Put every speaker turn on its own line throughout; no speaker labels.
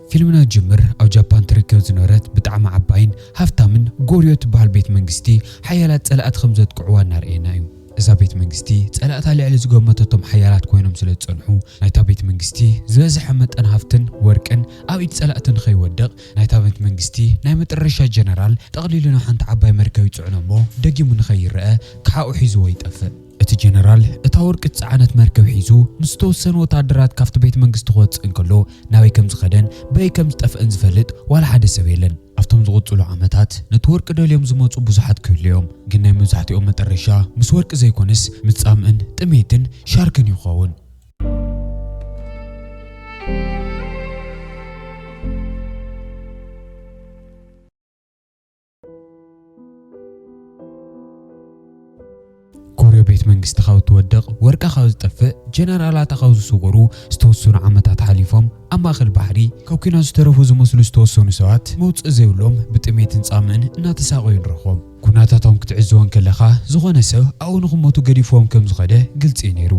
ፊልምና ዝጅምር ኣብ ጃፓን ትርከብ ዝነበረት ብጣዕሚ ዓባይን ሃፍታምን ጎርዮ ትበሃል ቤት መንግስቲ ሓያላት ፀላእቲ ከም ዘጥቅዕዋ እናርኣየና እዩ። እዛ ቤት መንግስቲ ፀላእታ ልዕሊ ዝገመተቶም ሓያላት ኮይኖም ስለ ዝፀንሑ ናይታ ቤት መንግስቲ ዝበዝሐ መጠን ሃፍትን ወርቅን ኣብ ኢድ ፀላእቲ ንከይወድቕ ናይታ ቤት መንግስቲ ናይ መጠረሻ ጀነራል ጠቕሊሉ ናብ ሓንቲ ዓባይ መርከብ ይፅዕኖ እሞ ደጊሙ ንከይረኣ ክሓኡ ሒዝዎ ይጠፍእ። እቲ ጀነራል እታ ወርቂ ዝጸዓነት መርከብ ሒዙ ምስ ዝተወሰኑ ወተሃደራት ካብቲ ቤት መንግስቲ ክወጽእ እንከሎ ናበይ ከም ዝኸደን በይ ከም ዝጠፍአን ዝፈልጥ ዋላ ሓደ ሰብ የለን። ኣብቶም ዝቕጽሉ ዓመታት ነቲ ወርቂ ደልዮም ዝመጹ ብዙሓት ክህልዉ እዮም፣ ግን ናይ መብዛሕትኦም መጠረሻ ምስ ወርቂ ዘይኮነስ ምስ ጻምእን ጥሜትን ሻርክን እዩ ክኸውን። ኮርዮ ቤት መንግስቲ ካብ እትወድቕ፣ ወርቃ ካብ ዝጠፍእ፣ ጀነራላታ ካብ ዝስወሩ ዝተወሰኑ ዓመታት ሓሊፎም። ኣብ ማእከል ባሕሪ፣ ካብ ኲናት ዝተረፉ ዝመስሉ ዝተወሰኑ ሰባት፣ መውጽኢ ዘይብሎም ብጥሜትን ጻምእን እናተሳቐዩ ንረኽቦም። ኵነታቶም ክትዕዘቦ እንከለኻ፣ ዝኾነ ሰብ ኣብኡ ንኽሞቱ ገዲፍዎም ከም ዝኸደ ግልጺ እዩ ነይሩ።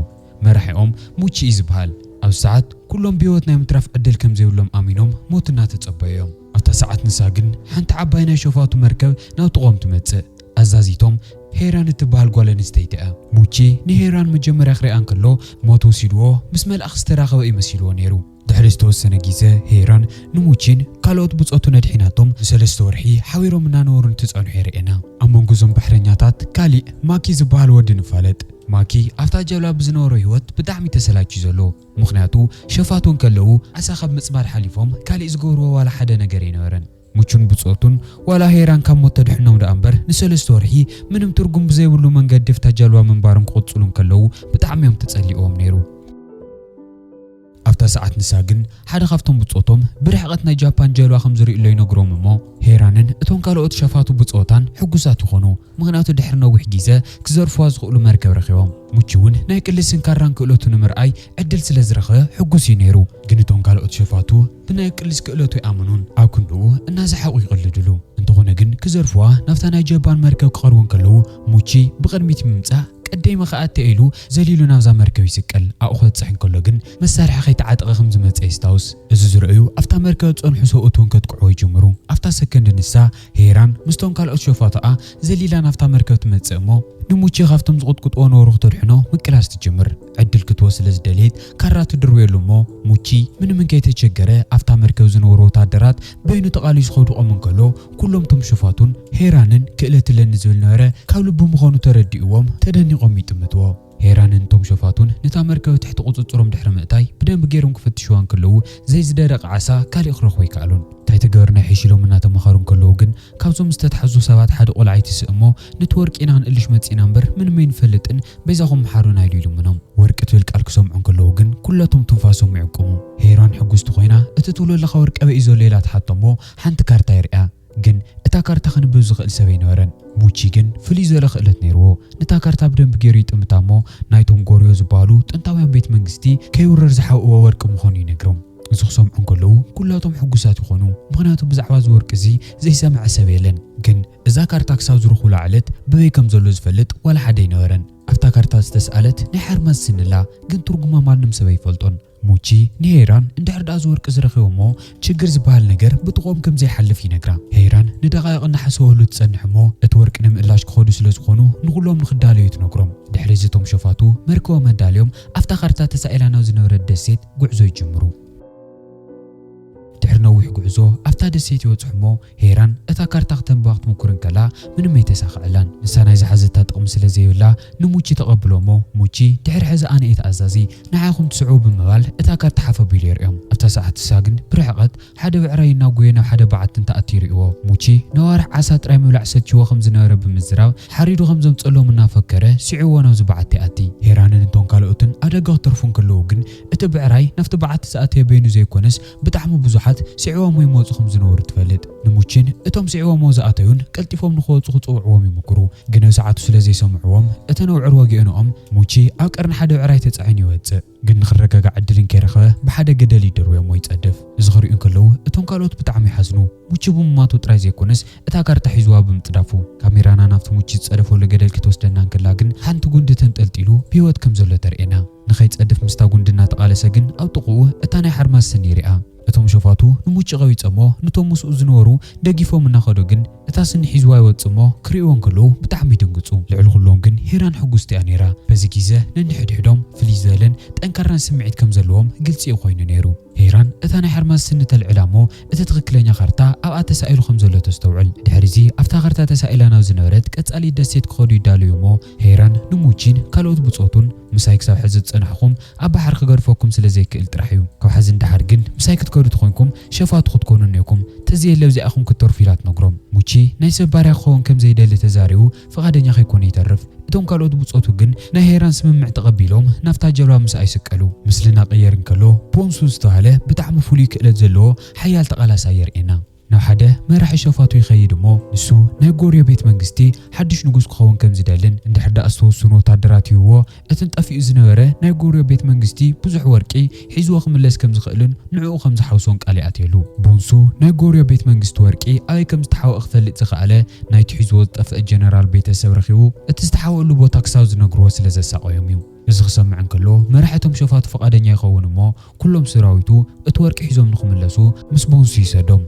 መራሒኦም ሙቺ እዩ ዝብሃል ኣብዚ ሰዓት ኩሎም ብህይወት ናይ ምትራፍ ዕድል ከም ዘይብሎም ኣሚኖም ሞት እናተጸበዩ እዮም። ኣብታ ሰዓት ንሳ ግን ሓንቲ ዓባይ ናይ ሸፋቱ መርከብ ናብ ጥቕኦም ትመጽእ። ኣዛዚቶም ሄራን እትብሃል ጓል ኣንስተይቲ እያ። ሙቺ ንሄራን መጀመርያ ክሪኣ እንከሎ ሞት ወሲድዎ ምስ መልኣኽ ዝተራኸበ እዩ መሲልዎ ነይሩ። ድሕሪ ዝተወሰነ ጊዘ ሄራን ንሙቺን ካልኦት ብጾቱን ኣድሒናቶም ንሰለስተ ወርሒ ሓቢሮም እናነበሩ እንትጸንሑ የርእየና። ኣብ መንጎ እዞም ባሕረኛታት ካሊእ ማኪ ዝበሃል ወዲ ንፋለጥ። ማኪ ኣብታ ጀልባ ብዝነበሮ ህይወት ብጣዕሚ ተሰላችዩ ዘሎ ምኽንያቱ ሸፋቱ እንከለዉ ዓሳ ካብ ምጽማድ ሓሊፎም ካሊእ ዝገብርዎ ዋላ ሓደ ነገር ኣይነበረን። ሙቹን ብጾቱን ዋላ ሄራን ካብ ሞት ተድሕኖም ደኣ እምበር ንሰለስተ ወርሒ ምንም ትርጉም ብዘይብሉ መንገዲ ኣብታ ጀልባ ምንባሮም ክቕጽሉ እንከለዉ ብጣዕሚ እዮም ተጸሊእዎም ነይሩ። ኣብታ ሰዓት ንሳ ግን ሓደ ካብቶም ብጾቶም ብርሕቐት ናይ ጃፓን ጃልባ ከም ዝርእዩ'ሎ ይነግሮም እሞ ሄራንን እቶም ካልኦት ሸፋቱ ብጾታን ሕጉሳት ይኾኑ ምኽንያቱ ድሕሪ ነዊሕ ጊዘ ክዘርፍዋ ዝኽእሉ መርከብ ረኺቦም። ሙቺ'ውን ናይ ቅልስን ካራን ክእለቱ ንምርኣይ ዕድል ስለ ዝረኽበ ሕጉስ እዩ ነይሩ። ግን እቶም ካልኦት ሸፋቱ ብናይ ቅልስ ክእለቱ ኣይኣመኑን ኣብ ክንድኡ እናሰሓቑ ይቕልድሉ። እንተኾነ ግን ክዘርፍዋ ናብታ ናይ ጃፓን መርከብ ክቐርቡ እንከለዉ ሙቺ ብቕድሚት ብምምጻእ ቀዴሚ ከኣ እተይ ኢሉ ዘሊሉ ናብዛ መርከብ ይስቀል። ኣብኡ ክበጽሕ እንከሎ ግን መሳርሒ ከይተዓጠቐ ከም ዝመጸ የስታውስ። እዚ ዝረኣዩ ኣብታ መርከብ ዝጸንሑ ሰብኡት እውን ከጥቅዕዎ ይጅምሩ። ኣብታ ሰከንድ ንሳ፣ ሄራን፣ ምስቶም ካልኦት ሸፋቱኣ ዘሊላ ናብታ መርከብ ትመጽእ እሞ ንሙቼ ካብቶም ዝቕጥቅጥዎ ነበሩ ክተድሕኖ ምቅላስ ትጅምር። ዕድል ክትወ ስለ ዝደለየት ካራ ትድርብየሉ እሞ ሙቺ ምንም እንከይተቸገረ ኣብታ መርከብ ዝነበሩ ወታደራት በይኑ ተቓሊሱ ከውድቖም እንከሎ ኩሎም እቶም ሸፋቱን ሄራንን ክእለት እለኒ ዝብል ነበረ ካብ ልቡ ምዃኑ ተረዲእዎም ተደኒቖም ይጥምትዎ። ሄራንን እቶም ሸፋቱን ነታ መርከብ ትሕቲ ቁጽጽሮም ድሕሪ ምእታይ ብደንቢ ገይሮም ክፍትሽዋ እንከለዉ ዘይዝደረቐ ዓሳ ካሊእ ክረኽቡ ኣይከኣሉን። እንታይ ተገበርና ይሕሽ ኢሎም እናተማኸሩ እንከለዉ ግን ካብዞም ዝተታሕዙ ሰባት ሓደ ቆልዓ ይትስእ እሞ ነቲ ወርቂ ኢና ክንእልሽ መጺእና እምበር ምንም ኣይንፈልጥን በይዛኹም ምሓሩና ኢሉ ይልምኖም። ወርቂ ትብል ቃል ክሰምዑ እንከለዉ ግን ኩለቶም ትንፋሶም ይዕቁሙ። ሄራን ሕጉስቲ ኮይና እቲ ትብሎ ዘለኻ ወርቂ ኣበይ እዩ ዘሎ ኢላ ትሓቶ እሞ ሓንቲ ካርታ የርእያ። ግን እታ ካርታ ክንብብ ዝኽእል ሰብ ኣይነበረን። ሙቺ ግን ፍልይ ዝበለ ክእለት ነይርዎ። ነታ ካርታ ብደንቢ ገይሩ ይጥምታ እሞ ናይቶም ጎርዮ ዝበሃሉ ጥንታውያን ቤት መንግስቲ ከይውረር ዝሓብእዎ ወርቂ ምዃኑ ይነግሮም። እዚ ክሰምዑ እንከለዉ ኩላቶም ሕጉሳት ይኾኑ ምኽንያቱ ብዛዕባ እዚ ወርቂ እዚ ዘይሰምዐ ሰብ የለን ግን እዛ ካርታ ክሳብ ዝረኽቡላ ዕለት በበይ ከም ዘሎ ዝፈልጥ ዋላ ሓደ ኣይነበረን ኣብታ ካርታ ዝተስኣለት ናይ ሓርማዝ ስኒ ኣላ ግን ትርጉማ ማንም ሰብ ኣይፈልጦን ሙቺ ንሄይራን እንድሕር ድኣ እዚ ወርቂ እዚ ረኺቦሞ ችግር ዝበሃል ነገር ብጥቕኦም ከም ዘይሓልፍ ይነግራ ሄይራን ንደቓይቕ እናሓሰወህሉ ትጸንሕ እሞ እቲ ወርቂ ንምእላሽ ክኸዱ ስለ ዝኾኑ ንኹሎም ንኽዳለዩ ትነግሮም ድሕሪ እዚ እቶም ሸፋቱ መርከቦም ኣዳልዮም ኣብታ ካርታ ተሳኢላ ናብ ዝነበረት ደሴት ጉዕዞ ይጅምሩ። ድሕሪ ነዊሕ ጉዕዞ ኣብታ ደሴት ይበጽሑ'ሞ ሄራን እታ ካርታ ክተንብባ ክትሙኩር እንከላ ምንም ኣይተሳኸዐላን። ንሳ ናይ ዝሓዘታ ጥቕሚ ስለ ዘይብላ ንሙቺ ተቐብሎ'ሞ ሙቺ ድሕሪ ሕዚ ኣነ'የ ተኣዛዚ ንዓኹም ትስዕቡ ብምባል እታ ካርታ ሓፍ ኣቢሉ የርእዮም። ኣብታ ሰዓት ንሳ ግን ብርሕቐት ሓደ ብዕራይ እናጎየ ናብ ሓደ በዓቲ እንትኣቲ ይርእዎ። ሙቺ፣ ንኣዋርሕ ዓሳ ጥራይ ምብላዕ ሰልቺዎ ከም ዝነበረ ብምዝራብ፣ ሓሪዱ ከም ዘምጽኣሎም እናፈከረ፣ ስዒዎ ናብዚ በዓቲ ይኣቲ። ሄራንን እቶም ካልኦትን ኣደገ ክትርፉ እንክለዉ ግን፣ እቲ ብዕራይ ናብቲ በዓቲ ዝኣተየ በይኑ ዘይኮነስ፣ ብጣዕሚ ብዙሓት ስዒቦሞ ይመጹ ከም ዝነበሩ ትፈልጥ። ንሙቺን እቶም ስዒቦሞ ዝኣተዩን ቀልጢፎም ንኽወጹ ክጽውዕዎም ይምኩሩ። ግን ኣብ ሰዓቱ ስለ ዘይሰምዕዎም፣ እተን ኣውዕር ወጊኤንኦም። ሙቺ ኣብ ቀርኒ ሓደ ብዕራይ ተጻዒኑ ይወጽእ። ግን ንኽረጋጋዕ ዕድል እንከይረኸበ ብሓደ ገደል ይድርብዮ እሞ ይጸድፍ። እዚ ክርእዩ እንከለዉ እቶም ካልኦት ብጣዕሚ ይሓዝኑ። ሙቺ ብሙማቱ ጥራይ ዘይኮነስ እታ ካርታ ሒዙዋ ብምጽዳፉ። ካሜራና ናብቲ ሙቺ ዝጸደፈሉ ገደል ክትወስደና እንከላ ግን ሓንቲ ጉንዲ ተንጠልጢሉ ብህይወት ከም ዘሎ ተርእየና። ንኸይጸድፍ ምስታ ጉንዲ እናተቓለሰ ግን ኣብ ጥቕኡ እታ ናይ ሓርማዝ ስኒ ርኣ። እቶም ሸፋቱ ንሙጭ ቀቢጸ እሞ ንቶም ምስኡ ዝነበሩ ደጊፎም እናኸዱ ግን እታ ስኒ ሒዝዋ ይወጽእ እሞ ክርእይዎ እንከለዉ ብጣዕሚ ይድንግጹ። ልዕሊ ኩሎም ግን ሄራን ሕጉስቲ እያ ነይራ። በዚ ጊዘ ነንሕድሕዶም ፍልይ ዝበለን ጠንካራን ስምዒት ከም ዘለዎም ግልጺ እዩ ኮይኑ ነይሩ። ሄራን እታ ናይ ሓርማዝ ስኒ ተልዕላ እሞ እቲ ትኽክለኛ ካርታ ኣብኣ ተሳኢሉ ከም ዘሎ ተስተውዕል። ድሕሪዚ ኣብታ ካርታ ተሳኢላ ናብ ዝነበረት ቀጻሊት ደሴት ክኸዱ ይዳለዉ እሞ፣ ሄራን ንሙቺን ካልኦት ብጾቱን ምሳይ ክሳብ ሕዚ ዝጸናሕኩም ኣብ ባሕሪ ክገድፈኩም ስለ ዘይክእል ጥራሕ እዩ። ካብ ሕዚ ንደሓር ግን ምሳይ ክትከዱ ተኾይንኩም ሸፋቱ ክትኮኑ እኔኩም ተዘየለ ኣብዚኣ ኢኹም ክትተርፉ ኢላ ትነግሮም። ሙቺ ናይ ሰብ ባርያ ክኸውን ከም ዘይደሊ ተዛሪቡ ፍቓደኛ ከይኮነ ይተርፍ። እቶም ካልኦት ብጾቱ ግን ናይ ሄራን ስምምዕ ተቐቢሎም ናብታ ጀልባ ምሳኣ ይስቀሉ። ምስሊ ናቕየር እንከሎ ቦንሱ ዝተባህለ ብጣዕሚ ፍሉይ ክእለት ዘለዎ ሓያል ተቓላሳይ የርእየና። ናብ ሓደ መራሒ ሸፋቱ ይኸይድ እሞ ንሱ ናይ ጎርዮ ቤት መንግስቲ ሓዱሽ ንጉስ ክኸውን ከም ዝደልን እንድሕር ደኣ ዝተወሰኑ ወታደራት ሂብዎ እትን ጠፊኡ ዝነበረ ናይ ጎርዮ ቤት መንግስቲ ብዙሕ ወርቂ ሒዝዎ ክምለስ ከም ዝኸእልን ንዕኡ ከም ዝሓውሶን ቃል ይኣትየሉ። ቦንሱ ናይ ጎርዮ ቤት መንግስቲ ወርቂ ኣበይ ከም ዝተሓውኧ ክፈልጥ ዝኸኣለ ናይቲ ሒዝዎ ዝጠፍኣ ጀነራል ቤተ ሰብ ረኺቡ እቲ ዝተሓውኣሉ ቦታ ክሳብ ዝነግርዎ ስለ ዘሳቐዮም እዩ። እዚ ክሰምዕ እንከሎ መራሒ እቶም ሸፋቱ ፍቓደኛ ይኸውን እሞ ኩሎም ስራዊቱ እቲ ወርቂ ሒዞም ንክምለሱ ምስ ቦንሱ ይሰዶም።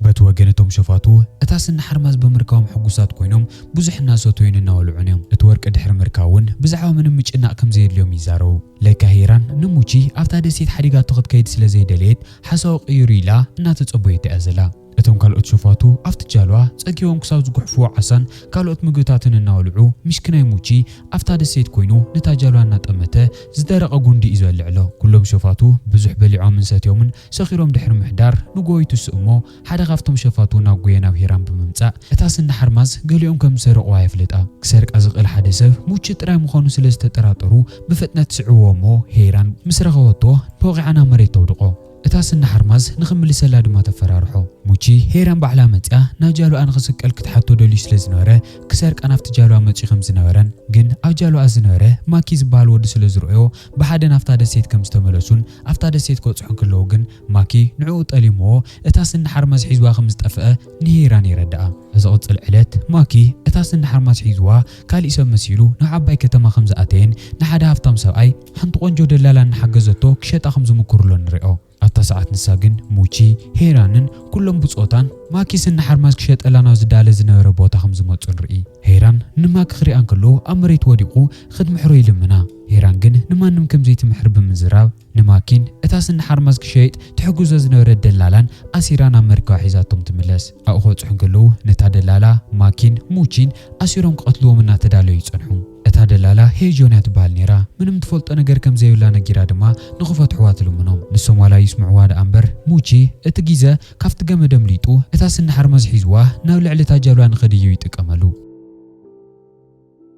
በቲ ወገን እቶም ሸፋቱ እታ ስኒ ሓርማዝ ብምርካቦም ሕጉሳት ኮይኖም ብዙሕ እናሰተዩን እናበልዑን እዮም። እቲ ወርቂ ድሕሪ ምርካብ እውን ብዛዕባ ምንም ምጭናቕ ከም ዘየድልዮም ይዛረቡ። ለካ ሂራን ንሙቺ ኣብታ ደሴት ሓዲጋቶ ክትከይድ ስለ ዘይደለየት ሓሳቡ ቀይሩ ኢላ እናተጸበየቶ እያ ዘላ። እቶም ካልኦት ሸፋቱ ኣብቲ ጃልባ ጸጊቦም ክሳብ ዝጉሕፍዎ ዓሳን ካልኦት ምግብታትን እናበልዑ ሚሽክናይ ሙቺ ኣብታ ደሴት ኮይኑ ነታ ጃልባ እናጠመተ ዝደረቐ ጉንዲ እዩ ዝበልዕ እሎ። ኩሎም ሸፋቱ ብዙሕ በሊዖምን ሰትዮምን ሰኺሮም ድሕሪ ምሕዳር ንጎሆ ይትስኡ እሞ ሓደ ካብቶም ሸፋቱ እናጎየ ናብ ሂራም ብምምጻእ እታ ስኒ ሓርማዝ ገሊኦም ከም ዝሰረቑዋ የፍልጣ። ክሰርቃ ዝኽእል ሓደ ሰብ ሙቺ ጥራይ ምዃኑ ስለ ዝተጠራጠሩ ብፍጥነት ስዕብዎ እሞ ሂራን ምስ ረኸበቶ ንፎቒዓ ናብ መሬት ተውድቖ። እታ ስኒ ሓርማዝ ንኽምልሰላ ድማ ተፈራርሖ። ሙቺ፣ ሄራን ባዕላ መጺኣ ናብ ጃልባኣ ንኽስቀል ክትሓቶ ደልዩ ስለ ዝነበረ፣ ክሰርቃ ናብቲ ጃልባ መጺኡ ከም ዝነበረን ግን ኣብ ጃልባኣ ዝነበረ ማኪ ዝበሃል ወዲ ስለ ዝረኦዮ ብሓደ ናብታ ደሴት ከም ዝተመለሱን ኣብታ ደሴት ክበጽሑ እንክለዉ ግን ማኪ ንዕኡ ጠሊምዎ እታ ስኒ ሓርማዝ ሒዝዋ ከም ዝጠፍኣ ንሄራን የረድኣ። ኣብ ዝቕጽል ዕለት ማኪ እታ ስኒ ሓርማዝ ሒዝዋ ካሊእ ሰብ መሲሉ ናብ ዓባይ ከተማ ከም ዝኣተየን ንሓደ ሃፍታም ሰብኣይ ሓንቲ ቆንጆ ደላላ እናሓገዘቶ ክሸጣ ከም ዝምኩርሎ ንሪኦ። ኣብታ ሰዓት ንሳ ግን ሙቺ፣ ሄይራንን ኩሎም ብጾታን ማኪስ እናሓርማዝ ክሸጠላ ናብ ዝዳለ ዝነበረ ቦታ ከም ዝመጹ ንርኢ። ሄይራን ንማኪ ክሪኣ እንከሎ ኣብ መሬት ወዲቑ ክትምሕሮ ይልምና። ሄይራን ግን ንማንም ከም ዘይትምሕር ብምዝራብ ንማኪን እታስ እናሓርማዝ ክሸይጥ ትሕግዞ ዝነበረት ደላላን ኣሲራ ናብ መርከባ ሒዛቶም ትምለስ። ኣብኡ ክበጽሑ እንከለዉ ነታ ደላላ፣ ማኪን ሙቺን ኣሲሮም ክቐትልዎም እናተዳለዉ ይጸንሑ። እታ ደላላ ሄይ ጆን እያ ትበሃል ነይራ። ምንም ትፈልጦ ነገር ከም ዘይብላ ነጊራ ድማ ንኽፈትሑዋ ትልምኖም። ንሶም ዋላ ይስምዑዋ ደኣ እምበር ሙቺ እቲ ጊዘ ካብቲ ገመድ ኣምሊጡ እታ ስኒ ሓርማዝ ሒዙዋ ናብ ልዕሊ እታ ጃልባ ንኽድይብ ይጥቀመሉ።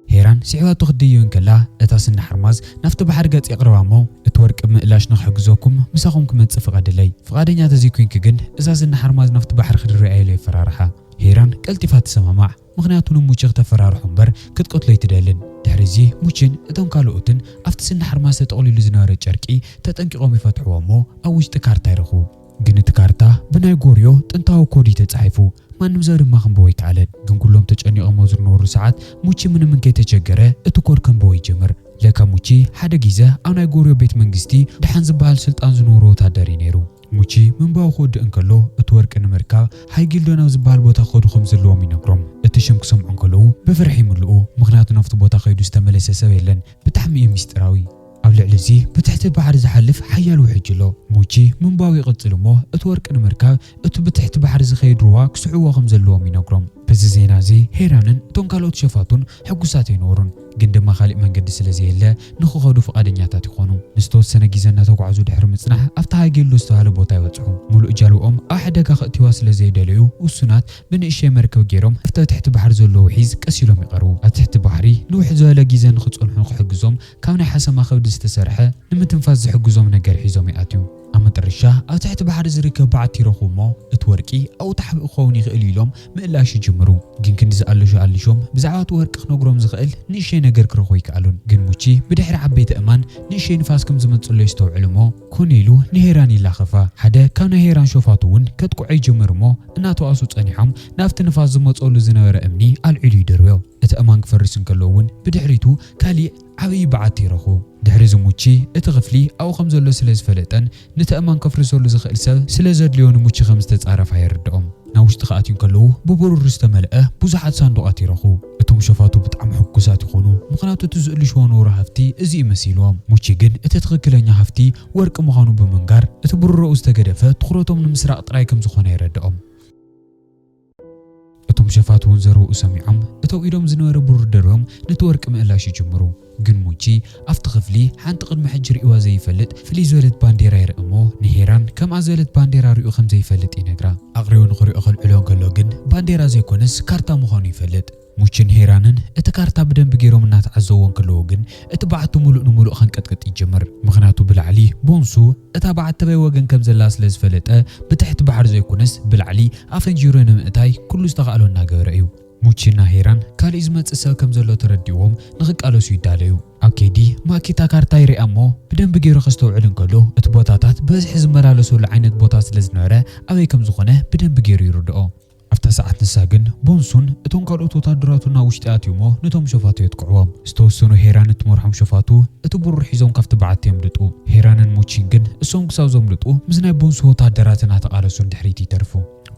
ሄራን ስዒባቶ ክትድይብ እንከላ እታ ስኒ ሓርማዝ ናብቲ ባሕሪ ገጽ የቕርባ እሞ እቲ ወርቂ ብምእላሽ ንኽሕግዘኩም ምሳኹም ክመጽእ ፍቐድለይ። ፍቓደኛ ተዘይኮይንኪ ግን እዛ ስኒ ሓርማዝ ናብቲ ባሕሪ ክድርብያ ኢሉ የፈራርሓ። ሄራን ቀልጢፋ ትሰማማዕ። ምኽንያቱ ንሙቺ ክተፈራርሖ እምበር ክትቀትሎ ኣይትደልን። ድሕሪ እዚ ሙቺን እቶም ካልኦትን ኣብቲ ስኒ ሓርማዝ ተጠቕሊሉ ዝነበረ ጨርቂ ተጠንቂቖም ይፈትሑዎ እሞ ኣብ ውሽጢ ካርታ ይረኽቡ። ግን እቲ ካርታ ብናይ ጎርዮ ጥንታዊ ኮድ እዩ ተጻሒፉ። ማንም ሰብ ድማ ክንብቦ ኣይከኣለን። ግን ኩሎም ተጨኒቖም ኣብ ዝርነበሩ ሰዓት ሙቺ ምንም እንከይተቸገረ እቲ ኮድ ከንብቦ ይጅምር። ለካ ሙቺ ሓደ ጊዘ ኣብ ናይ ጎርዮ ቤት መንግስቲ ደሓን ዝበሃል ስልጣን ዝነበሮ ወታደር እዩ ነይሩ። ሙቺ ምንባኡ ክውድእ እንከሎ፣ እቲ ወርቂ ንምርካብ ሃይ ጊልዶን ኣብ ዝበሃል ቦታ ክኸዱ ከም ዘለዎም ይነግሮም። እቲ ሽም ክሰምዑ እንከለዉ ብፍርሒ ይምልኡ፣ ምኽንያቱ ናብቲ ቦታ ከይዱ ዝተመለሰ ሰብ የለን። ብጣዕሚ እዩ ምስጢራዊ። ኣብ ልዕሊ እዚ ብትሕቲ ባሕሪ ዝሓልፍ ሓያል ውሕጅ ኣሎ። ሙቺ ምንባኡ ይቕጽል እሞ፣ እቲ ወርቂ ንምርካብ እቲ ብትሕቲ ባሕሪ ዝኸይድ ሩባ ክስዕብዎ ከም ዘለዎም ይነግሮም። ብዚ ዜና እዚ ሄራንን እቶም ካልኦት ሸፋቱን ሕጉሳት ኣይነበሩን፣ ግን ድማ ካልእ መንገዲ ስለ ዘየለ ንኽኸዱ ፍቓደኛታት ይኾኑ። ንዝተወሰነ ግዜ እናተጓዕዙ ድሕሪ ምጽናሕ ኣብቲ ሃይጌሎ ዝተባህለ ቦታ ይበጽሑ። ምሉእ ጃልባኦም ኣብ ሓደጋ ከእትዩዋ ስለ ዘይደለዩ ውሱናት ብንእሽተይ መርከብ ገይሮም ኣብቲ ኣብ ትሕቲ ባሕሪ ዘሎ ውሒዝ ቀስ ኢሎም ይቐርቡ። ኣብ ትሕቲ ባሕሪ ንውሕ ዝበለ ግዜ ንኽጸንሑ ክሕግዞም ካብ ናይ ሓሰማ ከብዲ ዝተሰርሐ ንምትንፋስ ዝሕግዞም ነገር ሒዞም ይኣትዩ። ኣብ መጠረሻ ኣብ ትሕቲ ባሕሪ ዝርከብ በዓቲ ይረኽቡ እሞ እቲ ወርቂ ኣብኡ ተሓቢኡ ክኸውን ይኽእል እዩ ኢሎም ምእላሽ ይጅምሩ። ግን ክንዲ ዝኣለሹ ኣሊሾም ብዛዕባ እቲ ወርቂ ክነግሮም ዝኽእል ንእሸተይ ነገር ክረኽቡ ኣይከኣሉን። ግን ሙቺ ብድሕሪ ዓበይቲ ኣእማን ንእሸተይ ንፋስ ከም ዝመጽእሎ የስተውዕል እሞ ኮነ ኢሉ ንሄራን ይላኸፋ። ሓደ ካብ ናይ ሄራን ሾፋቱ እውን ከጥቅዖ ይጅምር እሞ እናተባእሱ ጸኒሖም ናብቲ ንፋስ ዝመጽኦሉ ዝነበረ እምኒ ኣልዒሉ ይድርብዮ። እቲ ኣእማን ክፈርስ እንከሎ እውን ብድሕሪቱ ካሊእ ዓብዪ በዓቲ ረኹ። ድሕሪ ዝሙቺ እቲ ክፍሊ ኣብኡ ከም ዘሎ ስለ ዝፈለጠን ንቲ ኣእማን ከፍርሰሉ ዝኽእል ሰብ ስለ ዘድልዮ ንሙቺ ከም ዝተጻረፋ የርድኦም። ናብ ውሽጢ ክኣትዩ እንከለዉ ብብሩር ዝተመልኣ ብዙሓት ሳንዱቓት ይረኹ። እቶም ሸፋቱ ብጣዕሚ ሕጉሳት ይኾኑ ምኽንያቱ እቲ ዝእልሽዎ ንውራ ሃፍቲ እዚ እዩ መሲልዎም። ሙቺ ግን እቲ ትኽክለኛ ሃፍቲ ወርቂ ምዃኑ ብምንጋር እቲ ብሩረኡ ዝተገደፈ ትኹረቶም ንምስራቕ ጥራይ ከም ዝኾነ የረድኦም። እቶም ሸፋቱ እውን ዘረውኡ ሰሚዖም እተው ኢሎም ዝነበረ ብሩር ደርብዮም ነቲ ወርቂ ምእላሽ ይጅምሩ። ግን ሙቺ ኣብቲ ክፍሊ ሓንቲ ቅድሚ ሕጂ ርእዩዋ ዘይፈልጥ ፍልይ ዝበለት ባንዴራ ይርኢ እሞ ንሄራን ከምኣ ዝበለት ባንዴራ ርእዩ ከም ዘይፈልጥ ይነግራ። ኣቕሪቡ ንኽሪኦ ከልዕሎ እንከሎ ግን ባንዴራ ዘይኮነስ ካርታ ምዃኑ ይፈልጥ። ሙችን ሄራንን እቲ ካርታ ብደንቢ ገይሮም እናተዓዘብዎ እንከለዉ ግን እቲ በዓቲ ምሉእ ንምሉእ ከንቀጥቅጥ ይጅምር። ምኽንያቱ ብላዕሊ፣ ቦንሱ፣ እታ በዓቲ በይ ወገን ከም ዘላ ስለ ዝፈለጠ ብትሕቲ ባሕሪ ዘይኮነስ ብላዕሊ ኣፈንጂሩ ንምእታይ ኩሉ ዝተኻእሎ እናገበረ እዩ። ሙችን እና ሄራን ካሊእ ዝመፅእ ሰብ ከም ዘሎ ተረዲእዎም ንኽቃለሱ ይዳለዩ። ኣብ ከይዲ ማኪ እታ ካርታ ይሪኣ እሞ ብደንቢ ገይሩ ከስተውዕል እንከሎ እቲ ቦታታት ብበዝሒ ዝመላለሰሉ ዓይነት ቦታ ስለ ዝነበረ ኣበይ ከም ዝኾነ ብደንቢ ገይሩ ይርድኦ። ኣብታ ሰዓት ንሳ ግን ቦንሱን እቶም ካልኦት ወታደራቱን ናብ ውሽጢ ኣትዮሞ ነቶም ሸፋቱ የጥቅዕዎም። ዝተወሰኑ ሄራን እትመርሖም ሸፋቱ እቲ ብሩር ሒዞም ካብቲ በዓቲ የምልጡ። ሄራንን ሙቺን ግን እሶም ክሳብ ዘምልጡ ምስ ናይ ቦንሱ ወታደራት እናተቓለሱ ንድሕሪት ይተርፉ።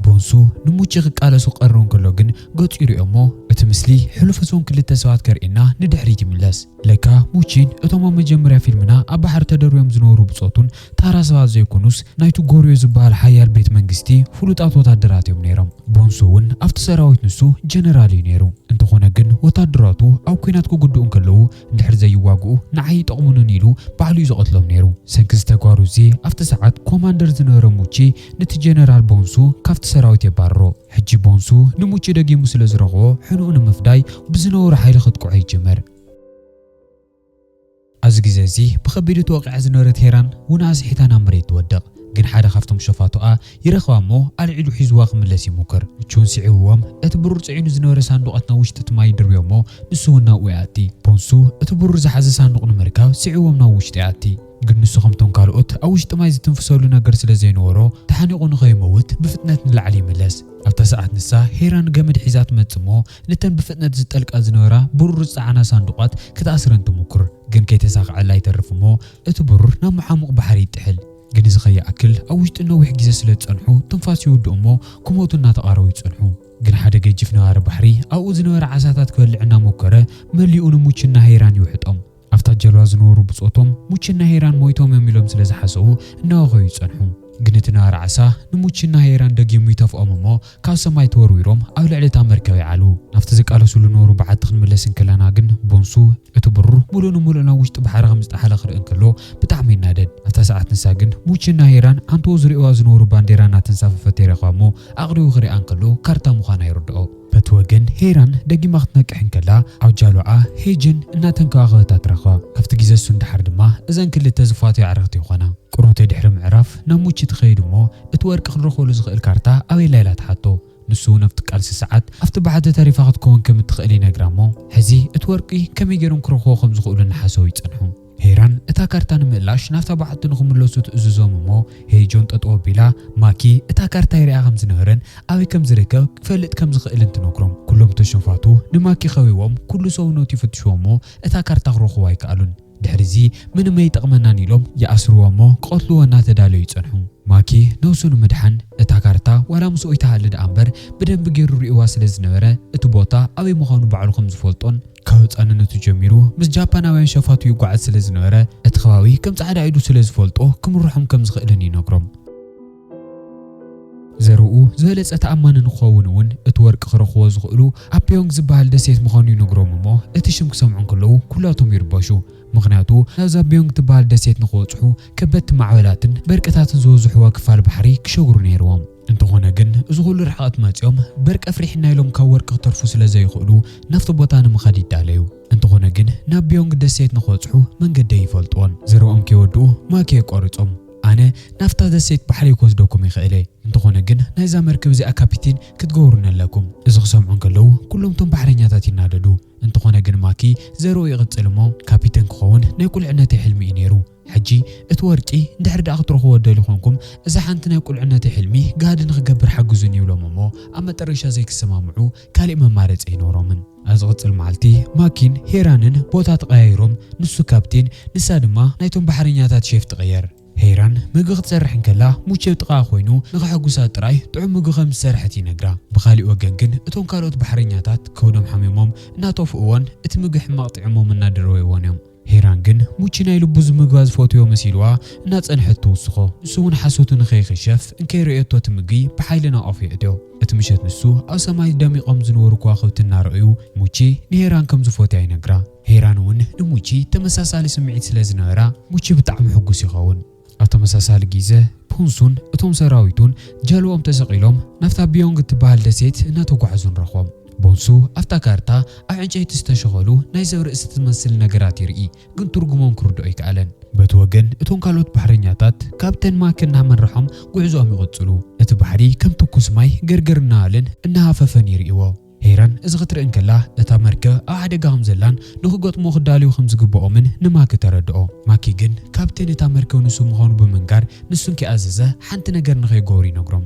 ቦንሱ ንሙቺ ክቃለሱ ቀርርቡ እንከሎ ግን ገጹ ይሪኦሞ እቲ ምስሊ ሕሉፍ እሶም ክልተ ሰባት ከርእየና ንድሕሪት ይምለስ። ለካ ሙቺን እቶም ኣብ መጀመርያ ፊልምና ኣብ ባሕሪ ተደርብዮም ዝነበሩ ብጾቱን ተራ ሰባት ዘይኮኑስ ናይቱ ጎርዮ ዝበሃል ሓያል ቤት መንግስቲ ፍሉጣት ወታደራት እዮም ነይሮም። ቦንሱ እውን ኣብቲ ሰራዊት ንሱ ጀነራል እዩ ነይሩ። እንተኾነ ግን ወታደራቱ ኣብ ኲናት ክጉድኡ እንከለዉ እንድሕር ዘይዋግኡ ንዓይ ኣይጠቕሙንን ኢሉ ባዕሉ እዩ ዝቐትሎም ነይሩ። ሰንኪ እዚ ተግባሩ እዚ ኣብቲ ሰዓት ኮማንደር ዝነበረ ሙቺ ንቲ ጀነራል ቦንሱ ካብቲ ሰራዊት የባርሮ። ሕጂ ቦንሱ ንሙቺ ደጊሙ ስለ ዝረኽቦ ሕንኡ ንምፍዳይ ብዝነውሪ ሓይሊ ከጥቅዖ ይጅምር። ኣብዚ ግዜ እዚ ብኸቢዱ ተወቒዓ ዝነበረት ሄራን ውን ኣስሒታ ናብ መሬት ትወድቕ። ግን ሓደ ካብቶም ሸፋቱኣ ይረኽባ እሞ ኣልዒሉ ሒዙዋ ክምለስ ይሙክር። ቹን ስዒቡዎም እቲ ብሩር ጽዒኑ ዝነበረ ሳንዱቓት ናብ ውሽጢ እቲ ማይ ይድርብዮ እሞ ንሱ ውን ናብኡ ይኣቲ። ቦንሱ እቲ ብሩር ዝሓዘ ሳንዱቕ ንምርካብ ስዒቡዎም ናብ ውሽጢ ይኣቲ። ግን ንሱ ከምቶም ካልኦት ኣብ ውሽጢ ማይ ዝትንፍሰሉ ነገር ስለ ዘይነበሮ ተሓኒቑ ንኸይመውት ብፍጥነት ንላዕሊ ይምለስ። ኣብታ ሰዓት ንሳ ሄራን ገመድ ሒዛ ትመጽእ እሞ ነተን ብፍጥነት ዝጠልቃ ዝነበራ ብሩር ዝጸዓና ሳንዱቓት ክትኣስረን ትሙኩር፣ ግን ከይተሳኸዐላ ይተርፍ እሞ እቲ ብሩር ናብ መሓሙቕ ባሕሪ ይጥሕል። ግን እዚ ከይኣክል ኣብ ውሽጢ ነዊሕ ግዜ ስለ ዝጸንሑ ትንፋስ ይውድኡ እሞ ክሞቱ እናተቓረቡ ይጸንሑ። ግን ሓደ ገጂፍ ነባሪ ባሕሪ ኣብኡ ዝነበረ ዓሳታት ክበልዕ እናሞከረ መሊኡ ንሙች እና ሄይራን ይውሕጦም። ኣብታ ጀልባ ዝነበሩ ብጾቶም፣ ሙችና ሄራን ሞይቶም እዮም ኢሎም ስለ ዝሓሰቡ እናወኸዩ ጸንሑ። ግን እቲ ነባሪ ዓሳ ንሙችና ሄራን ደጊሙ ይተፍኦም እሞ ካብ ሰማይ ተወርዊሮም ኣብ ልዕሊ እታ መርከብ ይዓልቡ። ናብቲ ዝቃለስሉ ዝነበሩ በዓቲ ክንምለስ እንከለና ግን ቦንሱ እቲ ብሩር ምሉእ ንምሉእ ናብ ውሽጢ ባሕሪ ከም ዝጠሓለ ክርኢ እንከሎ ብጣዕሚ ይናደድ። ኣብታ ሰዓት ንሳ ግን ሙችና ሄራን ኣንትኡ ዝርእዩዋ ዝነበሩ ባንዴራ እናተንሳፈፈት ይረኽባ እሞ ኣቕሪቡ ክሪኣ እንከሎ ካርታ ምዃና ይርድኦ። በቲ ወገን ሄራን ደጊማ ክትነቅሕ እንከላ ኣብ ጃሉዓ ሄጅን እናተንከባኸበታ ትረኽባ። ካብቲ ግዜ እሱ ንደሓር ድማ እዘን ክልተ ዝፋትዋ ኣዕርኽቲ ይኾና። ቁሩብ'ተ ድሕሪ ምዕራፍ ናብ ሙቺ ትኸይድ እሞ እቲ ወርቂ ክንረኽበሉ ዝኽእል ካርታ ኣበይ ኣላ ኢላ ትሓቶ። ንሱ'ውን ኣብቲ ቃልሲ ሰዓት ኣብቲ ባሕቲ ተሪፋ ክትከውን ከም እትኽእል ይነግራ'ሞ ሕዚ እቲ ወርቂ ከመይ ገይሮም ክረኽብዎ ከም ዝኽእሉ እናሓሰቡ ይጸንሑ። ሄራን እታ ካርታ ንምእላሽ ናብታ በዓቲ ንኽምለሱ ትእዝዞም እሞ ሄይጆን ጠጠው ኣቢላ ማኪ እታ ካርታ ይሪኣ ከም ዝነበረን ኣበይ ከም ዝርከብ ክፈልጥ ከም ዝኽእልን ትነግሮም ኩሎም ተሸፋቱ ንማኪ ከቢቦም ኩሉ ሰውነቱ ይፍትሽዎ እሞ እታ ካርታ ክረኽቡ ኣይከኣሉን ድሕሪ እዚ ምንም ኣይጠቕመናን ኢሎም ይኣስርዎ እሞ ክቐትልዎ እናተዳለዩ ይጸንሑ ማኪ ነብሱ ንምድሓን እታ ካርታ ዋላ ምስኡ ኣይትሃሊ ደኣ እምበር ብደንቢ ጌሩ ሪእዋ ስለ ዝነበረ እቲ ቦታ ኣበይ ምዃኑ ባዕሉ ከም ዝፈልጦን ካብ ህጻንነቱ ጀሚሩ ምስ ጃፓናውያን ሸፋቱ ይጓዓዝ ስለ ዝነበረ፣ እቲ ከባቢ ከም ጻዕዳ ኢዱ ስለ ዝፈልጦ ክምርሖም ከም ዝኽእልን ይነግሮም። ዘርኡ ዝበለጸ ተኣማኒ ንኽኸውን እውን እቲ ወርቂ ክረኽብዎ ዝኽእሉ ኣብ ፔዮንግ ዝበሃል ደሴት ምዃኑ ይነግሮም እሞ እቲ ሽም ክሰምዑ እንከለዉ ኩላቶም ይርበሹ። ምኽንያቱ ናብዛ ፔዮንግ ትበሃል ደሴት ንኽበጽሑ ከበድቲ ማዕበላትን በርቅታትን ዝበዝሑዋ ክፋል ባሕሪ ክሸግሩ ነይርዎም። እንተኾነ ግን እዚ ኹሉ ርሕቐት መፂኦም በርቂ ኣፍሪሕና ኢሎም ካብ ወርቂ ክተርፉ ስለ ዘይኽእሉ ናብቲ ቦታ ንምኻድ ይዳለዩ። እንተኾነ ግን ናብ ቢዮንግ ደሴት ንኽበፅሑ መንገዲ ኣይፈልጡዎን። ዘረኦም ከይወድኡ ማክየ ቆሪፆም ኣነ ናብታ ደሴት ባሕረይ ክወስደኩም ይኽእል እየ እንተኾነ ግን ናይዛ መርከብ እዚኣ ካፒቲን ክትገብሩኒ ኣለኩም። እዚ ክሰምዑ እንከለዉ ኩሎም እቶም ባሕረኛታት ይናደዱ። እንተኾነ ግን ማኪ ዘረኡ ይቕፅል እሞ ካፒተን ክኸውን ናይ ቁልዕነተይ ሕልሚ እዩ ነይሩ። ሕጂ እቲ ወርቂ እንድሕሪ ደኣ ክትረኽቡዎ ትደልዩ ኮንኩም፣ እዛ ሓንቲ ናይ ቁልዕነተይ ሕልሚ ጋህዲ ንኽገብር ሓግዙኒ ይብሎም እሞ ኣብ መጠረሻ ዘይክሰማምዑ ካሊእ መማረጺ ኣይኖሮምን። ኣብ ዝቕጽል መዓልቲ ማኪን ሄራንን ቦታ ተቐያይሮም፣ ንሱ ካፕቴን ንሳ ድማ ናይቶም ባሕረኛታት ሼፍ ትቕየር። ሄራን ምግቢ ክትሰርሕ እንከላ ሙቼ ኣብ ጥቓኣ ኮይኑ ንኸሐጉሳ ጥራይ ጥዑም ምግቢ ከም ዝሰርሐት ይነግራ። ብኻሊእ ወገን ግን እቶም ካልኦት ባሕረኛታት ከብዶም ሓሚሞም እናጠፍኡዎን እቲ ምግቢ ሕማቕ ጢዑሞም እናደረወይዎን እዮም። ሄራን ግን ሙቺ ናይ ልቡ ዝምግባ ዝፈትዮ መሲልዋ እናጸንሐት ትውስኾ። ንሱ'ውን ሓሶቱ ንኸይኽሸፍ እንከይረእየቶ ትምግቢ ብሓይሊ ናብ ኣፉ የእትዮ። እቲ ምሸት ንሱ ኣብ ሰማይ ደሚቖም ዝነበሩ ከዋኽብቲ እናረኣዩ ሙቺ ንሄራን ከም ዝፎትያ ይነግራ። ሄራን'ውን ንሙቺ ተመሳሳሊ ስምዒት ስለ ዝነበራ ሙቺ ብጣዕሚ ሕጉስ ይኸውን። ኣብ ተመሳሳሊ ግዘ ፑንሱን እቶም ሰራዊቱን ጀልባኦም ተሰቒሎም ናብታ ቢዮንግ እትበሃል ደሴት እናተጓዕዙ ንረኽቦም። ቡንሱ ኣብታ ካርታ ኣብ ዕንጨይቲ ዝተሸኸሉ ናይ ሰብ ርእሲ ትመስል ነገራት ይርኢ፣ ግን ትርጉሞም ክርድኦ ኣይከኣለን። በቲ ወገን እቶም ካልኦት ባሕረኛታት ካብ ተንማክ እናመርሖም ጉዕዞኦም ይቕጽሉ፣ እቲ ባሕሪ ከም ትኩስ ማይ ገርገር እናበለን እናሃፈፈን ይርእይዎ። ሄረን እዚ ክትርኢ እንከላ፣ እታ መርከብ ኣብ ሓደጋ ከም ዘላን ንኽገጥምዎ ክዳለዩ ከም ዝግብኦምን ንማኪ ተረድኦ። ማኪ ግን ካፕቴን እታ መርከብ ንሱ ምዃኑ ብምንጋር ንሱ እንከይኣዘዘ ሓንቲ ነገር ንኸይገብሩ ይነግሮም።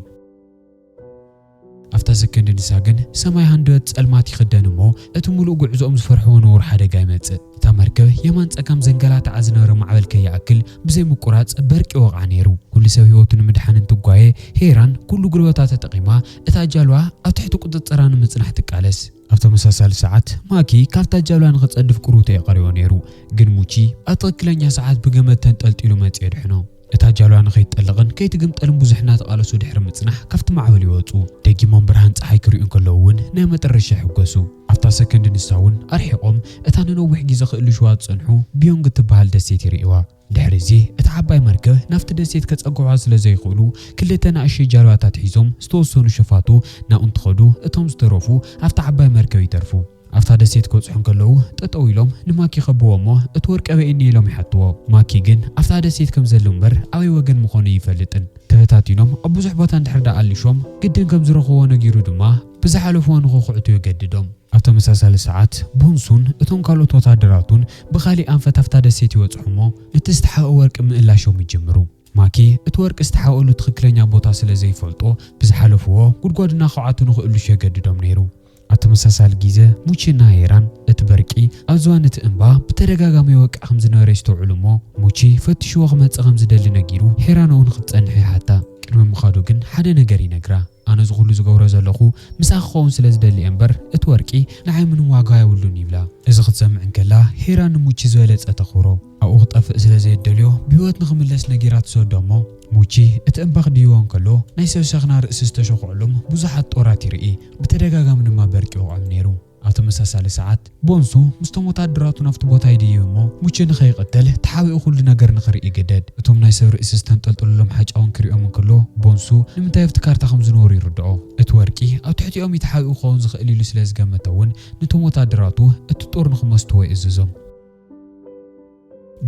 ኣብታ ሰከንድ ንሳ ግን ሰማይ ሃንደበት ጸልማት ይኽደን እሞ እቲ ምሉእ ጉዕዞኦም ዝፈርሕዎ ንቡር ሓደጋ ይመጽእ። እታ መርከብ የማን ጸጋም ዘንገላትዓ ዝነበረ ማዕበል ከይኣክል ብዘይ ምቁራጽ በርቂ ይወቕዓ ነይሩ። ኩሉ ሰብ ህይወቱ ንምድሓን እንትጓየ፣ ሄራን ኩሉ ጉልበታ ተጠቒማ እታ ጃልዋ ኣብ ትሕቲ ቁጽጽራ ንምጽናሕ ትቃለስ። ኣብ ተመሳሳሊ ሰዓት፣ ማኪ ካብታ ጃልዋ ንኽጸድፍ ቁሩብ ተየቐርዮ ነይሩ፣ ግን ሙቺ ኣብ ትኽክለኛ ሰዓት ብገመድ ተንጠልጢሉ መጺኡ ኣድሕኖ። እታ ጃልዋ ንኸይትጠልቕን ከይትግምጠልን ብዙሕ እናተቓለሱ ድሕሪ ምጽናሕ ካብቲ ማዕበል ይወጹ። ደጊሞም ብርሃን ጸሓይ ክርእዩ እንከለዉ እውን ናይ መጠረሻ ይሕጎሱ። ኣብታ ሰከንድ ንሳ እውን ኣርሒቖም እታ ንነዊሕ ግዜ ክእልሹዋ ዝጸንሑ ቢዮንግ እትበሃል ደሴት ይርእዩዋ። ድሕሪ'ዚ እታ ዓባይ መርከብ ናብቲ ደሴት ከጸግዑዋ ስለ ዘይክእሉ፣ ክልተ ናእሽተይ ጃልባታት ሒዞም ዝተወሰኑ ሸፋቱ ናብኡ እንትኸዱ፣ እቶም ዝተረፉ ኣብታ ዓባይ መርከብ ይተርፉ። ኣብታ ደሴት ክበጽሑ እንከለዉ ጠጠው ኢሎም ንማክ ይኸብዎ'ሞ እቲ ወርቂ ኣበይ እኒሀ ኢሎም ይሓትዎ። ማክ ግን ኣብታ ደሴት ከም ዘሉ እምበር ኣበይ ወገን ምኾኑ ኣይፈልጥን። ተበታቲኖም ኣብ ብዙሕ ቦታ እንድሕር ደኣ ኣሊሾም ግድን ከም ዝረኽብዎ ነጊሩ ድማ፣ ብዝሓለፍዎ ንኽኹዕቱ የገድዶም። ኣብ ተመሳሳሊ ሰዓት፣ ቦንሱን እቶም ካልኦት ወተሃደራቱን ብኻሊእ ኣንፈት ኣብታ ደሴት ይበጽሑ እሞ ነቲ ዝተሓብኦ ወርቂ ምእላሾም ይጅምሩ። ማኪ እቲ ወርቂ ዝተሓብኦሉ ትኽክለኛ ቦታ ስለ ዘይፈልጦ ብዝሓለፍዎ ጉድጓድ እናኾዓቱ ንኽእልሹ የገድዶም ነይሩ። ኣብ ተመሳሳሊ ጊዘ፣ ሙቺ እና ሄራን እቲ በርቂ ኣብ ዝባን እቲ እምባ ብተደጋጋሚ ይወቅዕ ከም ዝነበረ የስተውዕሉ እሞ ሙቺ ፈትሽዎ ክመጽእ ከም ዝደሊ ነጊሩ ሄራን ኣብኡ ንኽትጸንሕ ይሓታ። ቅድሚ ምኻዱ ግን ሓደ ነገር ይነግራ። ኣነ እዚ ኩሉ ዝገብሮ ዘለኹ ምሳኺ ክኸውን ስለ ዝደሊ እየ እምበር እቲ ወርቂ ንዓይ ምንም ዋጋ የብሉን ይብላ። እዚ ክትሰምዕ እንከላ ሄራን ንሙቺ ዝበለጸ ተኽብሮ። ኣብኡ ክጠፍእ ስለ ዘየደልዮ ብህይወት ንኽምለስ ነጊራ ትሰዶ እሞ ሙቺ እቲ እምባ ክድይቦ እንከሎ ናይ ሰብ ሸኽና ርእሲ ዝተሸኹዕሉም ብዙሓት ጦራት ይርኢ። ብተደጋጋሚ ድማ በርቂ ይወቕዕም ነይሩ። ኣብ ተመሳሳሊ ሰዓት፣ ቦንሱ ምስቶም ወተሃደራቱ ናብቲ ቦታ ይድይብ እሞ፣ ሙቸ ንኸይቕተል ተሓቢኡ ኩሉ ነገር ንኽርኢ ይግደድ። እቶም ናይ ሰብ ርእሲ ዝተንጠልጠሉሎም ሓጫውን ክሪኦም እንክሎ፣ ቦንሱ ንምንታይ ኣብቲ ካርታ ከም ዝነበሩ ይርድኦ። እቲ ወርቂ ኣብ ትሕቲኦም'ዩ ተሓቢኡ ክኸውን ዝኽእል ኢሉ ስለ ዝገመተ'ውን፣ ነቶም ወተሃደራቱ እቲ ጦር ንኽመስቱዎ ይእዝዞም።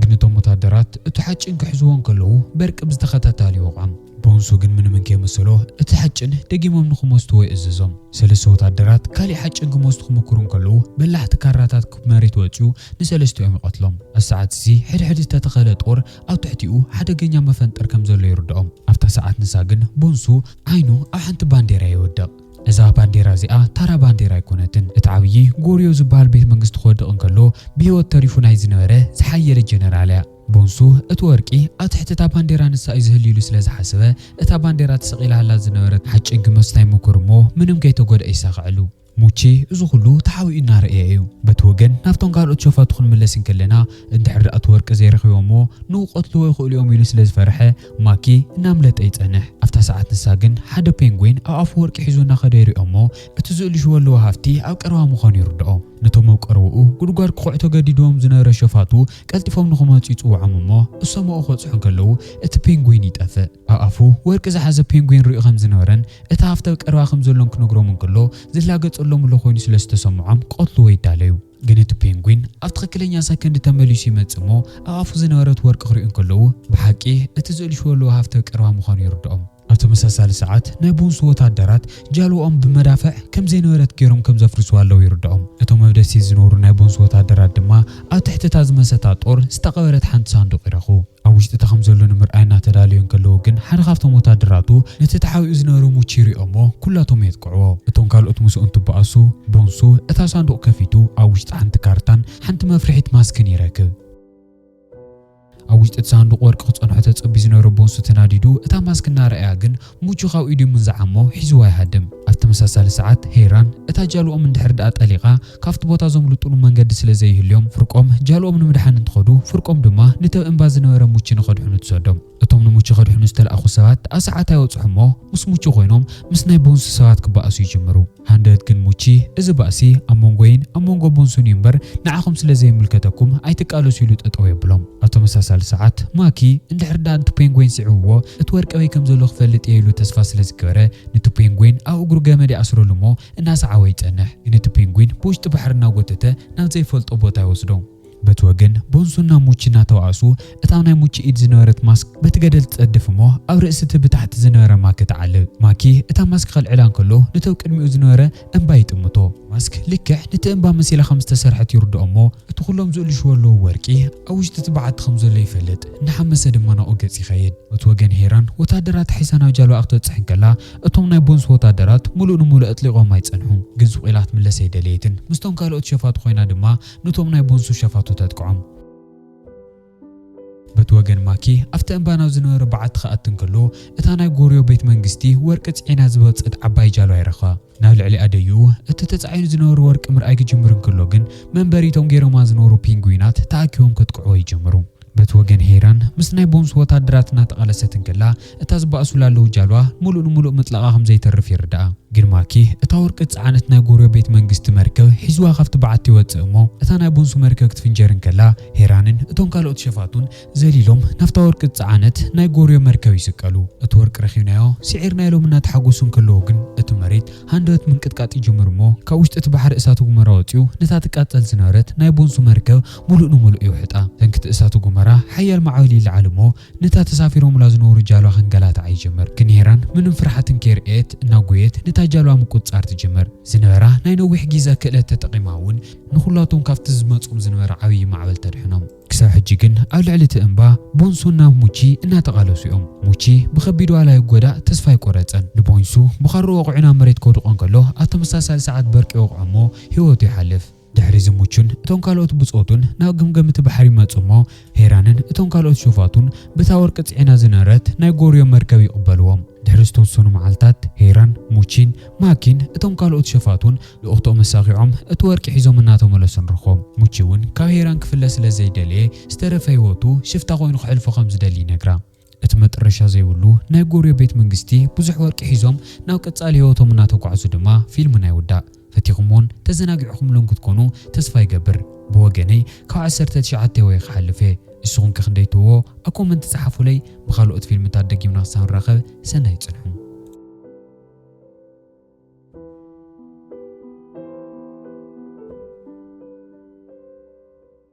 ግን እቶም ወታደራት እቲ ሓጭን ክሕዝዎ እንከለዉ በርቂ ብዝተኸታታሊ ይወቕዖም። ቦንሱ ግን ምንምን ከይመሰሎ እቲ ሓጭን ደጊሞም ንኽሞዝትዎ ይእዝዞም። ሰለስተ ወታደራት ካሊእ ሓጭን ክሞዝቱ ክምኩሩ እንከለዉ በላሕቲ ካራታት ክብ መሬት ወጺኡ ንሰለስቲኦም ይቐትሎም። ኣብዚ ሰዓት እዚ ሕድሕድ ዝተተኸለ ጦር ኣብ ትሕቲኡ ሓደገኛ መፈንጠር ከም ዘሎ ይርድኦም። ኣብታ ሰዓት ንሳ ግን ቦንሱ ዓይኑ ኣብ ሓንቲ ባንዴራ ይወድቕ። እዛ ባንዴራ እዚኣ ታራ ባንዴራ ኣይኮነትን። እቲ ዓብዪ ጎርዮ ዝበሃል ቤት መንግስቲ ክወድቕ እንከሎ ብህይወት ተሪፉ ናይ ዝነበረ ዝሓየለ ጀነራል እያ። ቦንሱ እቲ ወርቂ ኣብ ትሕቲ እታ ባንዴራ ንሳ እዩ ዝህሉ ኢሉ ስለ ዝሓሰበ እታ ባንዴራ ተሰቒላላ ዝነበረት ሓጭን ግመስ ናይ ምኩር እሞ ምንም ከይተጎድኣ ይሳኸዐሉ። ሙቼ እዚ ኩሉ ተሓቢኡ እናረኣየ እዩ። በቲ ወገን ናብቶም ካልኦት ሸፋቱ ክንምለስ እንከለና እንድሕር ደኣ እቲ ወርቂ ዘይረኺቦምዎ ንክቐትልዎ ይኽእሉ እዮም ኢሉ ስለ ዝፈርሐ ማኪ እናምለጠ ይጸንሕ። ኣብታ ሰዓት ንሳ ግን ሓደ ፔንጉይን ኣብ ኣፉ ወርቂ ሒዙ እናኸደ ይሪኦ እሞ እቲ ዝእልሹ ወለዎ ሃፍቲ ኣብ ቀረባ ምዃኑ ይርድኦ። ነቶም ኣብ ቀረውኡ ጉድጓድ ክኹዕቶ ገዲድዎም ዝነበረ ሸፋቱ ቀልጢፎም ንኽመጹ ይጽውዖም እሞ እሶምኡ ክበጽሑ እንከለዉ እቲ ፔንጉይን ይጠፍእ። ኣብ ኣፉ ወርቂ ዝሓዘ ፔንጉይን ሪኡ ከም ዝነበረን እቲ ሃፍቲ ኣብ ቀረባ ከም ዘሎን ክነግሮም እንከሎ ዝላገጸሎም እሎ ኮይኑ ስለ ዝተሰምዖም ክቐትልዎ ይዳለዩ። ግን እቲ ፔንጉይን ኣብ ትኽክለኛ ሰከንድ ተመሊሱ ይመጽእ እሞ ኣብ ኣፉ ዝነበረት ወርቂ ክሪኡ እንከለዉ ብሓቂ እቲ ዝእልሽዎ ኣለዉ ሃፍተ ቀረባ ምዃኑ ይርድኦም። ኣብ ተመሳሳሊ ሰዓት ናይ ቡንሱ ወተሃደራት ጃልባኦም ብመዳፍዕ ከም ዘይነበረት ገይሮም ከም ዘፍርስዋ ኣለዉ ይርድኦም። እቶም ኣብ ደሴት ዝነብሩ ናይ ቡንሱ ወተሃደራት ድማ ኣብ ትሕቲ እታ ዝመሰታ ጦር ዝተቐበረት ሓንቲ ሳንዱቕ ይረኽቡ። ኣብ ውሽጢ እቲ ከምዘሎ ንምርኣይ እናተዳለዩ እንከለዉ ግን ሓደ ካብቶም ወታደራቱ ነቲ ተሓቢኡ ዝነበረ ሙቺ ይሪኦሞ ኩላቶም የጥቅዕዎ። እቶም ካልኦት ምስኡ እንትበኣሱ ቦንሱ እታ ሳንዱቕ ከፊቱ ኣብ ውሽጣ ሓንቲ ካርታን ሓንቲ መፍርሒት ማስክን ይረክብ። ኣብ ውሽጢ እቲ ሳንዱቕ ወርቂ ክጸንሖ ተጸብዩ ዝነበረ ቦንሱ ተናዲዱ እታ ማስክ እናረኣያ ግን ሙቹ ካብ ኢዱ ምንዝዓሞ ሒዝዋ ይሃድም። ኣብ ተመሳሳሊ ሰዓት ሄይራን እታ ጃልኦም እንድሕር ደኣ ጠሊቓ ካብቲ ቦታ ዘምልጡሉ መንገዲ ስለ ዘይህልዮም ፍርቆም ጃልኦም ንምድሓን እንትኸዱ ፍርቆም ድማ ንተብ እምባ ዝነበረ ሙቺ ንኸድሕኑ ትሰዶም። እቶም ንሙቺ ከድሕኑ ዝተላእኹ ሰባት ደኣ ሰዓት ኣይወጽሑሞ ምስ ሙቹ ኮይኖም ምስ ናይ ቦንሱ ሰባት ክበኣሱ ይጅምሩ። ሃንደበት ግን ሙቺ እዚ ባእሲ ኣብ መንጎይን ኣብ መንጎ ቦንሱን እዩ እምበር ንዓኹም ስለ ዘይምልከተኩም ኣይትቃለሱ ኢሉ ጠጠው የብሎም። ኣብ ተመሳሳሊ ሰዓት ማኪ እንድሕር ደኣ ንቲ ፔንጎይን ስዒብዎ እቲ ወርቂ ኣበይ ከም ዘሎ ክፈልጥ እየ ኢሉ ተስፋ ስለ ዝገበረ ንቲ ፔንጎይን ኣብ እግሩ ገመድ ይኣስረሉ እሞ እናሰዓቦ ይጸንሕ ግን እቲ ፔንጉይን ብውሽጢ ባሕሪ እናጎተተ ናብ ዘይፈልጦ ቦታ ይወስዶ። በቲ ወገን ቦንሶ ናብ ሙቺ እናተባኣሱ፣ እታ ናይ ሙቺ ኢድ ዝነበረት ማስክ በቲ ገደል ትጸድፍ እሞ ኣብ ርእሲ እቲ ብታሕቲ ዝነበረ ማኪ ትዓልብ። ማኪ እታ ማስክ ከልዕላ እንከሎ ነቲ ኣብ ቅድሚኡ ዝነበረ እምባ ይጥምቶ። ማስክ ልክዕ ነቲ እምባ መሲላ ከም ዝተሰርሐት ይርድኦ እሞ፣ እቲ ኩሎም ዝእልሽዎ ኣለዉ ወርቂ ኣብ ውሽጢ እቲ በዓቲ ከም ዘሎ ይፈልጥ፣ እናሓመሰ ድማ ናብኡ ገጽ ይኸይድ። በቲ ወገን ሄራን ወተሃደራታ ሒዛ ናብ ጃልባኣ ክትበጽሕ እንከላ እቶም ናይ ቦንሶ ወተሃደራት ምሉእ ንምሉእ ኣጥሊቖማ ይጸንሑ። ግን ስቕ ኢላ ክትምለስ ኣይደለየትን። ምስቶም ካልኦት ሸፋቱ ኮይና ድማ ኑቶም ናይ ቦንሱ ሸፋቱ ተጥቅዖም። በቲ ወገን ማኪ ኣብቲ እምባናው ዝነበረ በዓቲ ክኣቲ እንከሎ እታ ናይ ጎርዮ ቤት መንግስቲ ወርቂ ጽዒና ዝወጸት ዓባይ ጃሎ ኣይረኸ። ናብ ልዕሊ ኣደይኡ እቲ ተጻዒኑ ዝነበረ ወርቂ ምርኣይ ክጅምር እንከሎ ግን መንበሪቶም ገይሮማ ዝነበሩ ፒንጉዊናት ተኣኪቦም ከጥቅዕዎ ይጅምሩ። በቲ ወገን ሄራን ምስ ናይ ቦንሱ ወታደራት እናተቓለሰት እንከላ እታ ዝባእሱላ ኣለዉ ጃልባ ምሉእ ንምሉእ ምጥላቓ ከም ዘይተርፍ ይርዳኣ። ግን ማኪ እታ ወርቂ ዝጸዓነት ናይ ጎርዮ ቤት መንግስቲ መርከብ ሒዙዋ ካብቲ በዓቲ ይወጽእ እሞ እታ ናይ ቦንሱ መርከብ ክትፍንጀር እንከላ ሄራንን እቶም ካልኦት ሸፋቱን ዘሊሎም ናብታ ወርቂ ዝጸዓነት ናይ ጎርዮ መርከብ ይስቀሉ። እቲ ወርቂ ረኪብናዮ ስዒርና ኢሎም እናተሓጎሱ እንከለዉ ግን እቲ መሬት ሃንደበት ምንቅጥቃጥ ይጅምር እሞ ካብ ውሽጢ እቲ ባሕሪ እሳተ ጉመራ ወጺኡ ነታ ትቃጸል ዝነበረት ናይ ቦንሱ መርከብ ምሉእ ንምሉእ ይውሕጣ። ሰንኪ እቲ እሳተ ጉመራ ሓያል ማዕበል ይለዓል እሞ ነታ ተሳፊሮሙላ ዝነበሩ ጃልባ ከንገላትዓ ይጅምር። ግን ሄራን ምንም ፍርሓትን ከይርኣየት እናጎየት ነታ ጃልባ ምቁጽጻር ትጅምር። ዝነበራ ናይ ነዊሕ ጊዘ ክእለት ተጠቂማ እውን ንኹላቶም ካብቲ ዝመጾም ዝነበረ ዓብዪ ማዕበል ተድሕኖም። ክሳብ ሕጂ ግን ኣብ ልዕሊ እቲ እምባ ቦንሱን ናብ ሙቺ እናተቓለሱ እዮም። ሙቺ ብኸቢድ ዋላ ይጎዳእ ተስፋ ኣይቆረጸን። ንቦንሱ ብኻርኡ ወቒዑ ናብ መሬት ከውድቖ እንከሎ ኣብ ተመሳሳሊ ሰዓት በርቂ ይወቕዖ እሞ ህይወቱ ይሓልፍ። ድሕሪ ዝሙቹን እቶም ካልኦት ብጾቱን ናብ ገምገም እቲ ባሕሪ ይመጹ እሞ፣ ሄራንን እቶም ካልኦት ሾፋቱን በታ ወርቂ ጽዒና ዝነበረት ናይ ጎርዮ መርከብ ይቕበልዎም። ድሕሪ ዝተወሰኑ መዓልታት፣ ሄራን፣ ሙቺን፣ ማኪን እቶም ካልኦት ሸፋቱን ልኡኽቶኦም ኣሳኺዖም እቲ ወርቂ ሒዞም እናተመለሱ ንረኽቦም። ሙቺ እውን ካብ ሄራን ክፍለ ስለ ዘይደለየ ዝተረፈ ህይወቱ ሽፍታ ኮይኑ ከሕልፎ ከም ዝደሊ ይነግራ። እቲ መጠረሻ ዘይብሉ ናይ ጎርዮ ቤት መንግስቲ ብዙሕ ወርቂ ሒዞም ናብ ቀጻሊ ህይወቶም እናተጓዕዙ ድማ ፊልምና ይውዳእ። ፈቲኹሞን ተዘናጊዕኹምሉን ክትኮኑ ተስፋ ይገብር። ብወገነይ ካብ ዓሰርተ ትሽዓተ ወየ ክሓልፍ እየ። እስኹም ከ ክንደይ ትህብዎ? ኣብ ኮመንት ጸሓፉለይ። ብኻልኦት ፊልምታት ደጊምና ክሳብ ንራኸብ ሰናይ ጽንሑ።